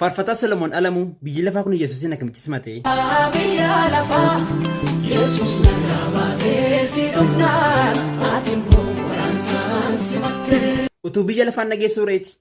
Faarfataa Solomoon Alamuu biyyi lafaa kun Yesuusiin akkamitti simate? Biyya lafaa Yesuus nagaa baatee si dhufnaan ati immoo waraansaan simatte. Utuu biyya lafaan dhageessuu reeti.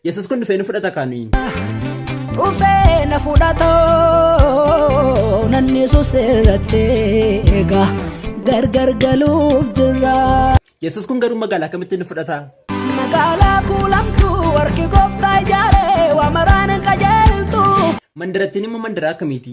Yesus kun dhufee nu fudhata kaa nuyi. dhufee na fudhatoo nan yesus irratti egaa gargar galuuf jirra. Yesus kun garuu magaalaa akkamitti nu fudhata? Magaalaa kuulamtuu warqii gooftaa ijaaree waa maraan hin qajeeltu. Mandarattiin immoo mandaraa akkamiiti?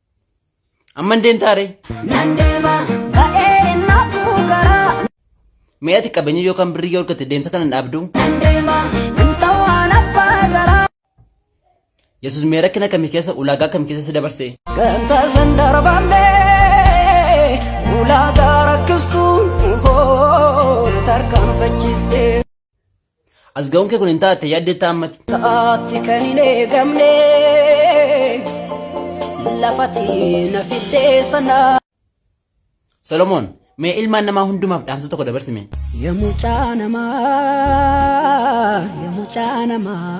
Amma hin deemtaa ree? Nan deema ba'ee naafuu karaa. Mee ati qabeenya yookaan birrii yoo argatte deemsa kana hin dhaabdu? Nan deema nan ta'aan abbaa garaa. Yesuus mee rakkina akkamii keessa ulaagaa akkamii keessa si dabarse? Ganta san darbannee ulaagaa rakkistuu hoo tarkaanfachiistee. As ga'uun kee kun hin taate yaaddeetta ammati. Sa'aatti kan hin eegamne lafati na fiddee sana. Solomoon mee ilmaan namaa hundumaaf dhaamsa tokko dabarsime. Ya mucaa namaa, ya mucaa namaa.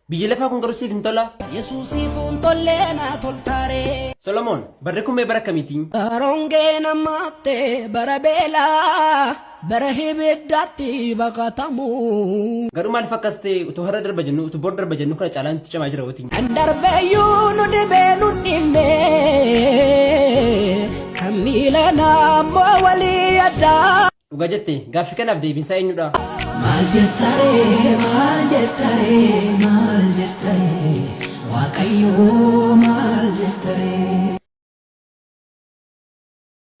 Biyyi lafaa kun garuu siif hin tolaa? Yesuusiif hin tollee naa toltaaree. Solomoon, Barri kun mee bara akkamiitii? Bara hongeen hammaatte, bara beelaa, bara hibiddaatti baqatamuu. Garuu maaliif akkas ta'e utuu har'a darba jennuu utuu bor darba jennuu kana caalaa nutti cimaa jira watii. Kan darbeyyuu nu dhibee nu dhibne kan miila naammoo walii yaddaa. Dhuga jette gaaffi kanaaf deebinsaa eenyudha? Maal jettaree maal jettaree maal jettaree waaqayyoo maal jettaree.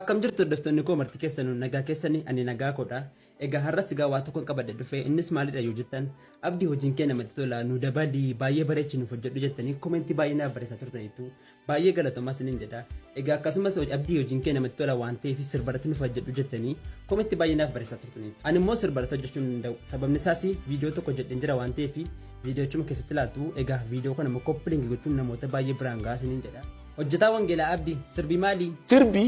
Akkam jirtu hordoftoonni koo marti keessanuu nagaa keessanii ani nagaa koodha. Egaa har'as egaa waa tokkoon qabadde dhufee innis maalidha yoo jettan abdii hojiin kee namatti tola nu dabalii baay'ee bareechi nuuf hojjedhu jettanii komentii baay'ee naaf barreessaa turtaniitu. Baay'ee galatoomaa isiniin jedha. Egaa akkasumas abdii hojiin kee namatti tola waan ta'eef sirbarratti nuuf hojjedhu jettanii kometti baay'ee naaf barreessaa turtanii. Ani immoo sirbarratti hojjechuu hin danda'u. Sababni isaas viidiyoo tokko jedheen jira waan ta'eef viidiyochuma keessatti ilaaltu egaa viidiyoo kana immoo koppilingi gochuun namoota baay'ee biraan gahaa isiniin jedha. Hojjetaa Wangeelaa Abdii sirbi maali? Sirbi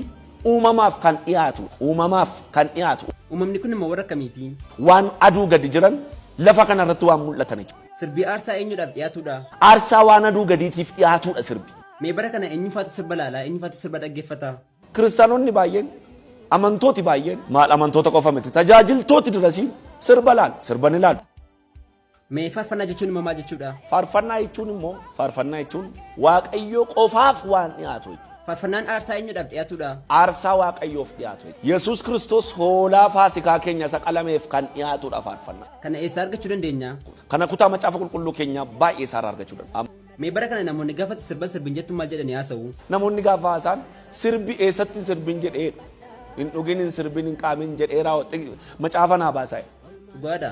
uumamaaf kan dhiyaatu uumamaaf kan dhiyaatu Uumamni kun immoo warra akkamiiti? waan aduu gadi jiran lafa kanarratti waan mul'atan jechuudha. Sirbi aarsaa eenyudhaaf dhiyaatudha? Aarsaa waan aduu gadiitiif dhiyaatudha sirbi. Mee bara kana eenyufaatu sirba laala? Eenyufaatu sirba dhaggeeffata? Kiristaanonni baay'een, amantooti baay'een, maal amantoota qofa miti, tajaajiltooti dirasiin sirba laalu, sirba ni laalu. Mee faarfannaa jechuun immoo maal jechuudha? Faarfannaa jechuun immoo, faarfannaa jechuun Waaqayyoo qofaaf waan dhiyaatu jechuudha. Faarfannaan aarsaa eenyudhaaf dhiyaatudha? Aarsaa Waaqayyoof dhiyaatu jechuudha. Yesuus Kiristoos hoolaa faasikaa keenya isa qalameef kan dhiyaatudha faarfannaan. Kana eessaa argachuu dandeenya? Kana kutaa macaafa qulqulluu keenyaa baay'ee isaarraa argachuu danda'a. Mee bara kana namoonni gaafa sirba sirbin jettu maal jedhanii haasa'u? Namoonni gaafa haasaan sirbi eessatti hin sirbin jedhee hin dhugin hin sirbin hin qaamin jedhee raawwatte macaafa naa baasaa. Dhugaadha.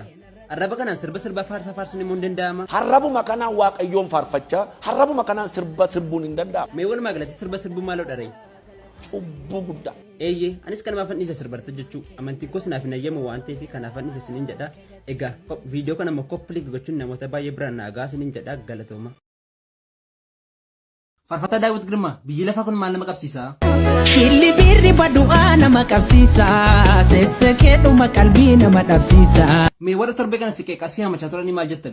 Arraba kanaan sirba sirbaa faarsaa faarsuun immoo hin danda'ama. Harrabuma kanaan waaqayyoon faarfachaa harrabuma kanaan sirba sirbuun hin danda'ama. Mee walumaa galatti sirba sirbuu maaloo dharee? Cubbuu guddaa. Eeyyee, anis kan maafan dhiise sirbarta jechuu amantiin koos naaf hin ayyamu waan ta'eef kanaafan dhiise sinin jedha. Egaa kop- viidiyoo kana immoo koppiliik gochuun namoota baay'ee biraan naa gahaa sinin jedha galatooma. Farfataa Daawit Girmaa biyyi lafaa kun maal nama qabsiisa? Shilli biirri badu'aa nama qabsiisa. Sessekeedhuma qalbii nama dhabsiisa. Mee warra torbee kana si qeeqaa si hamachaa turanii maal jettan?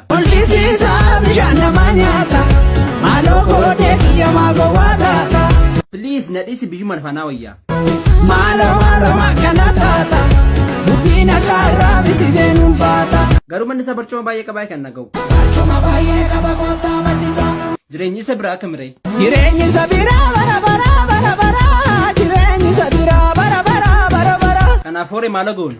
Mul'isiisaa bishaan nama nyaata maaloo koodee kiyya maa gowwaa taata. Please na dhisi biyyuma lafanaa wayyaa. Maaloo maaloo akkana taata dubbiin akka irraa miti beenuun baata. Garuu manni isaa barcuma baay'ee qabaa kan naga'u. Barcuma baay'ee qaba koottaa manni isaa. Jireenyi isa biraa akka miree. Jireenyi isa biraa bara bara bara bara jireenyi isa biraa bara bara bara bara. Kanaaf horii maala goonu.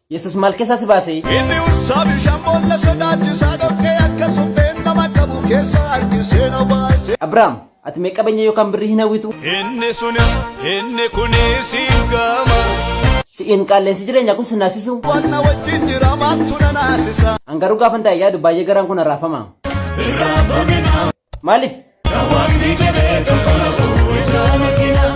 Yesus maal keessaa si baase? Inni ursaa bishaan boolla sodaachisaa dhoqqee akka supheen nama qabu keessa harkisee na baase. Abrahaam, ati mee qabeenya yookaan birrii hin hawwitu? Inni sunis inni kunis hin gaama. Si'iin qaal'eensi jireenyaa kun si naasisu. Waan na wajjin jira maaltu na naasisa. An garuu gaafan taa'e yaadu baay'ee garaan kun arraafama. Maaliif? Kan waaqni jedhee tokko na fuudhaa.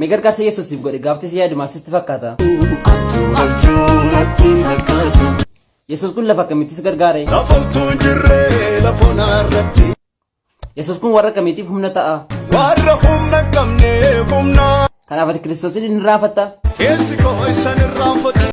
Mee gargaarsa Yesuus siif godhe gaaftii si yaadu maal sitti fakkaata? Abjuu abjuu natti fakkaata. Yesuus kun lafa akkamitti si gargaare? Lafomtuu jirree lafoonaa irratti. Yesuus kun warra akkamiitiif humna ta'a? Warra humna hin qabneef humna. Kanaaf ati Kiristoosiin hin irraanfatta? Keessi koo isan irraanfatu.